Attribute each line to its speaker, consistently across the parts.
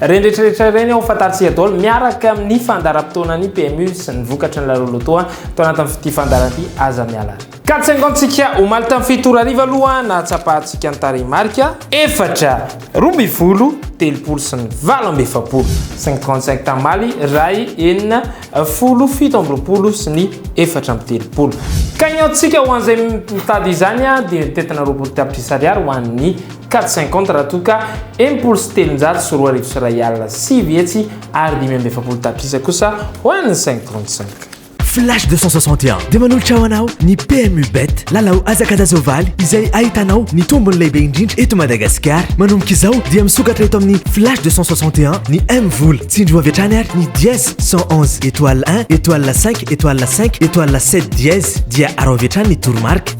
Speaker 1: Ireny rehetrarehetra ireny ao fantatsika daholo miaraka amin'ny fandaharam-potoanan'ny PMU sy ny vokatry ny lalolotoa tao anatin'ity fandaharana ity aza miala. Ka tsaingantsika omaly tamin'ny fito ora hariva aloha nahatsapahantsika ny tarehimarika. Efatra, roa ambin'ny folo, telopolo sy ny valo amby efapolo, cinq trente cinq tamaly iray, enina, folo, fito amby roapolo sy ny efatra amby telopolo. Ka iniantsika ho an'izay mitady izany dia mitentina roapolo tapitrisa ariary ho an'ny Quatre cinquante raha toa ka enimpolo sy telonjato sy roa arivo sy iray alina sivy hetsy ary dimy amby efapolo tapitrisa kosa ho an'ny cinq trente cinq. Flash deux cent
Speaker 2: soixante et un dia manolotra ho anao ny PMU Bet, lalao hazakazan-tsoavaly izay ahitanao ny tombony lehibe indrindra eto Madagasikara. Manomboka izao dia misokatra eto amin'ny Flash deux cent soixante et un ny M Vola. Tsindrio avy hatrany ary ny dièse cent onze étoile un étoile cinq étoile cinq étoile sept dièse dia arao avy hatrany ny toromarika.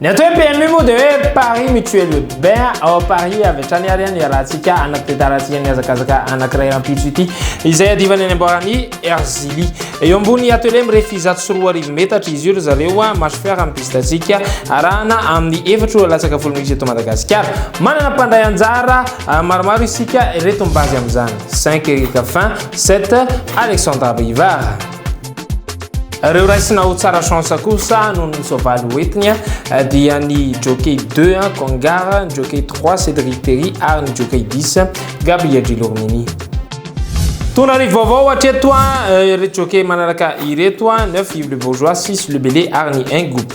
Speaker 3: Ny atao hoe PMU
Speaker 1: moa dia hoe Paris Mutuel Urbain ao Paris avy hatrany ary ny iarahantsika anati-piantarantsika ny hazakazaka anankiray rahampitso ity izay adivany any amboaran'i Erzili. Eo ambony atelier mirefy zato sy roa arivo metatra izy io ry zareo Marche Fer amin'ny piste-ntsika arahana amin'ny efatra ora latsaka folo minitra eto Madagasikara. Manana mpandray anjara maromaro isika, ireto mibaby amin'izany, Cinq Eric Fin, Sept Alexandra Brivard. Ireo raisina ho tsara chance kosa noho ny soavaly hoentiny dia ny jockey 2 Kongar, ny jockey 3 Cédric Terry ary ny jockey 10 Gabriel Gilormini. Tona ry vaovao hatreto eh, ireto jockey manaraka ireto, 9 Yves le Bourgeois, 6 le Belé ary ny 1 Groupe.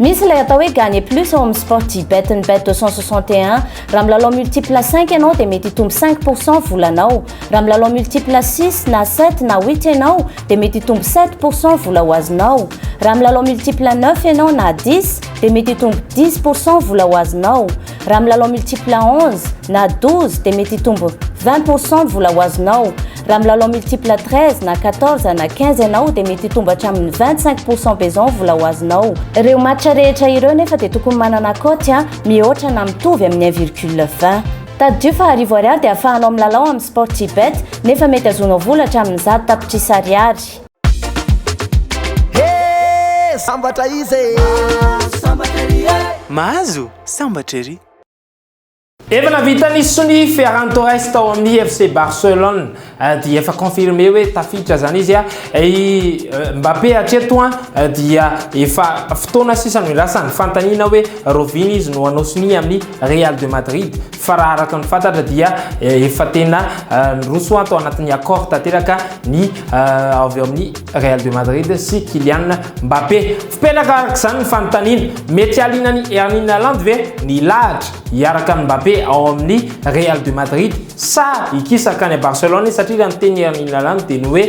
Speaker 1: Misy
Speaker 4: ilay atao hoe gagner plus ao amin'ny Sportybet ny bet 261. Raha milalao multiple cinq ianao dia mety hitombo cinq pour cent volanao. Raha milalao multiple six na sept na huit ianao dia mety hitombo sept pour cent vola ho azonao. Raha milalao multiple neuf ianao na dix dia mety hitombo dix pour cent vola ho azonao. Raha milalao multiple onze na douze dia mety hitombo vingt pour cent vola ho azonao. Raha milalao multiple 13 na 14 na 15 ianao dia mety hitombo hatramin'ny 25 pourcent besoin vola ho azonao. Ireo match rehetra ireo nefa dia tokony manana cote a mihoatra na mitovy amin'ny 1 virgule 20. Tadidio fa arivo ariary dia ahafahanao milalao amin'ny Sportybet nefa mety azonao vola hatramin'ny zato tapitrisa ariary.
Speaker 5: Hee sambatra iza e!
Speaker 3: Mahazo sambatra ery.
Speaker 1: Efa navita ny sony Ferran Torres tao amin'ny FC Barcelone dia efa confirmé hoe tafiditra zany izy i Mbappé hatreto dia efa fotoana sisa no irasany fantaniana hoe rovina izy no hanao sonia amin'ny Real de Madrid fa raha araka ny fantatra dia efa tena niroso ato anatin'ny accord tanteraka ny avy ao amin'ny Real de Madrid sy Kylian Mbappé Tsy petraka araka izany ny fanontaniana, mety halinan'i Erling Haaland ve ny hilahatra hiaraka amin'i Mbappé ao amin'ny Real de Madrid sa hikisa hankany à Barcelone izy satria raha ny tenin'i Erling Haaland dia ny hoe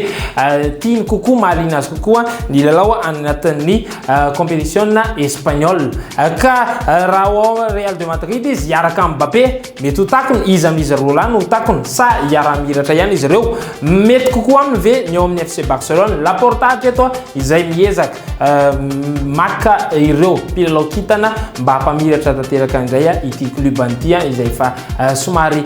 Speaker 1: tiany kokoa, mahaliana azy kokoa ny hilalao any anatin'ny kaompetisiona espaniola ka raha ao Real de Madrid izy hiaraka amin'i Mbappé. Mety ho takona iza amin'izy roa lahy no ho takona, sa hiaraha-mihiratra ihany izy ireo? Mety kokoa aminy ve ny ao amin'ny FC Barcelone? Laporta hatreto izay miezaka maka ireo mpilalao kintana mba hampamiratra tanteraka indray ity klobany ity izay efa somary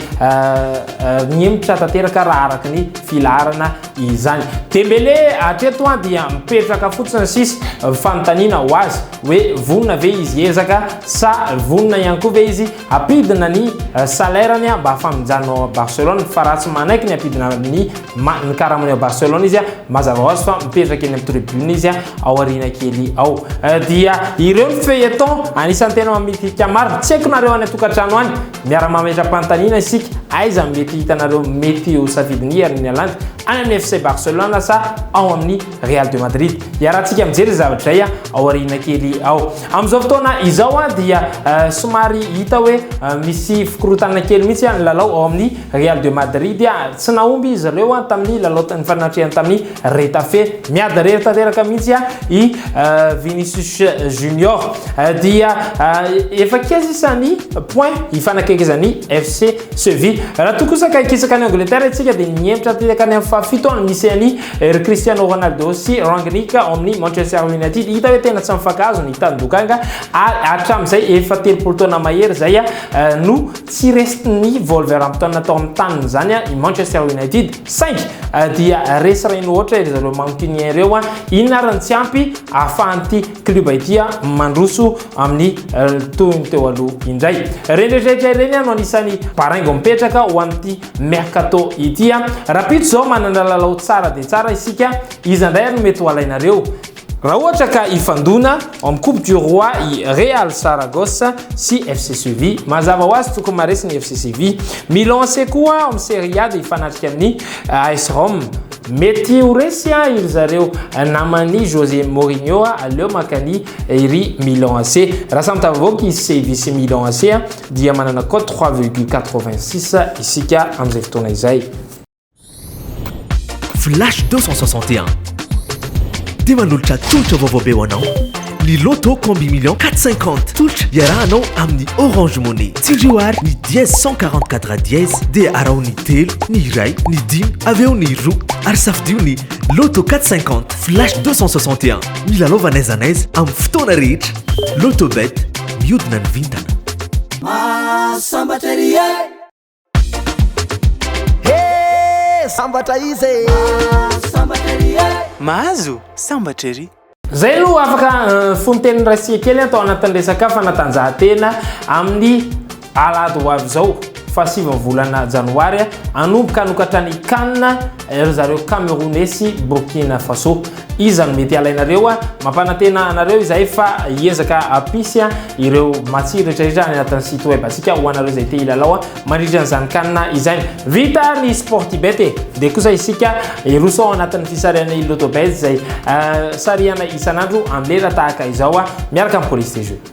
Speaker 1: nihemotra tanteraka raha araka ny filaharana izany. Dembele hatreto dia mipetraka fotsiny sisa, fanontaniana ho azy hoe vonona ve izy hiezaka sa vonona ihany koa ve izy Ampidina ny salaire ny mba hafaminjanona ao Barcelone fa raha tsy manaiky ny ampidina ny ny karamany ao Barcelone izy mazava hoazy fa mipetraka eny amin'ny tribune izy ao aoriana kely ao dia ireo ny feuilleton anisan'ny tena mamidika maro tsy haiko nareo any atokantrano any miara mametra-panontaniana isika aiza mety hitanareo mety ho safidy ny herin'ny alandy any amin'ny FC Barcelone sa ao amin'ny Real de Madrid. Iarahantsika mijery ny zavatra izay ao aoriana kely ao. Amin'izao fotoana izao dia eh, somary hita hoe eh, misy fikorontana kely mihitsy ny lalao ao amin'ny Real de Madrid. Tsy nahomby izy ireo tamin'ny lalao nifanatrehan tamin'ny Retafe. Miady rery tanteraka mihitsy i eh, Vinicius Junior. Dia efa keza isan'ny point ifanakaikezan'ny FC Sevilla. Raha toa kosa ka hikisaka any Angleterre isika dia ny hemitra tanteraka any amin'ny fahafito no misy an'i Ry Cristiano Ronaldo sy Rangnick ao amin'ny Manchester United, hita hoe tena tsy mifankahazo ny tanindokanga ary hatramin'izay efa telopolo taona mahery izay no tsy resin'ny Wolverhampton tao amin'ny taniny izany i Manchester United. Saingy dia resy reny ohatra ry zareo Mancunien ireo, inona ary ny tsy ampy ahafahan'ity club ity mandroso amin'ny toy ny teo aloha indray. Ireny rehetra rehetra ireny no anisan'ny baraingo mipetraka ho an'ity mercato ity a. Rahampitso izao manana lalao tsara dia tsara isika, iza indray ary no mety ho alainareo? Raha ohatra ka hifandona amin'ny coupe du roi i Real Saragosse sy FC Seville, mazava ho azy tokony maharesy ny FC Seville. Milan AC koa ao amin'ny Serie A dia hifanatrika amin'ny AS Rome. Mety ho resy i ry zareo naman'i José Mourinho, aleo maka an'i ry Milan AC. Raha samy tafavoaka i Seville sy Milan AC dia manana code 3,86 isika amin'izay fotoana izay.
Speaker 2: Flash 261. Dia manolotra tolotra vaovao be ho anao ny Lotto Combi Million 450. Tolotra iarahanao amin'ny Orange Money. Tsindrio ary ny dièse 144 dièse dia araho ny telo, ny iray, ny dimy, avy eo ny roa ary safidio ny Lotto 450. Flash 261. Milalaova n'aiza n'aiza amin'ny fotoana rehetra. Lotobet, miodina ny vintana. Ah, sambatra ery e!
Speaker 5: He, sambatra izy e! Ah, sambatra ery e!
Speaker 3: Mahazo, sambatra ery! Zay no afaka
Speaker 1: eh, fonteniny rasia kely atao anatin'ny resaka fanatanjahantena amin'ny Alahady ho avy izao, faha sivy ny volana janoary, hanomboka hanokatra ny Can ry zareo Camerounais sy Burkina Faso. Iza no mety halainareo? Mampanantena anareo izahay fa hiezaka hampisy ireo matsiro rehetrarehetra any anatin'ny site web antsika ho anareo izay te hilalao mandritra an'izany Can izany. Vita ny Sportybet e! Dia kosa isika hiroso ao anatin'ny fisarihana i Lotobet izay sarihana isan'andro amin'ny lera tahaka izao miaraka amin'ny Police des Jeux.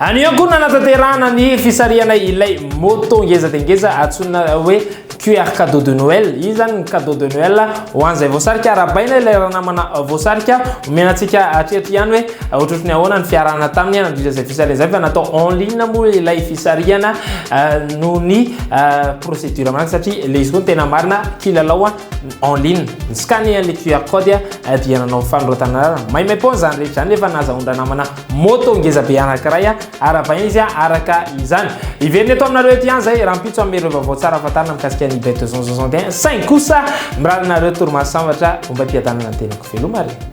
Speaker 1: Any ihany koa no nanatanterahana ny fisarihana ilay moto ngeza dia ngeza antsoina hoe QR cadeau de Noël. Iny izany ny cadeau de Noël ho an'izay voasarika. Arahabaina ilay ranamana voasarika. Omena antsika hatreto ihany hoe ohatrohatry ny ahoana ny fiarahana taminy nandritra izay fisarihana izay fa natao en ligne moa ilay fisarihana noho ny procédure manaraka satria ilay izy koa ny tena marina kilalao en ligne. Ny scanner ilay QR code dia nanao fanoratana maimaipoana izany rehetra izany nefa nahazahoan-dranamana Moto ngeza be anankiray ary avaina izy araka izany. Hiverina eto aminareo eto ihany izay rahampitso amin'ny ireo vaovao tsara fantarina mikasika ny bet 261 saingy kosa mirary anareo torimaso sambatra omba am-piadanana ny tenako veloma re.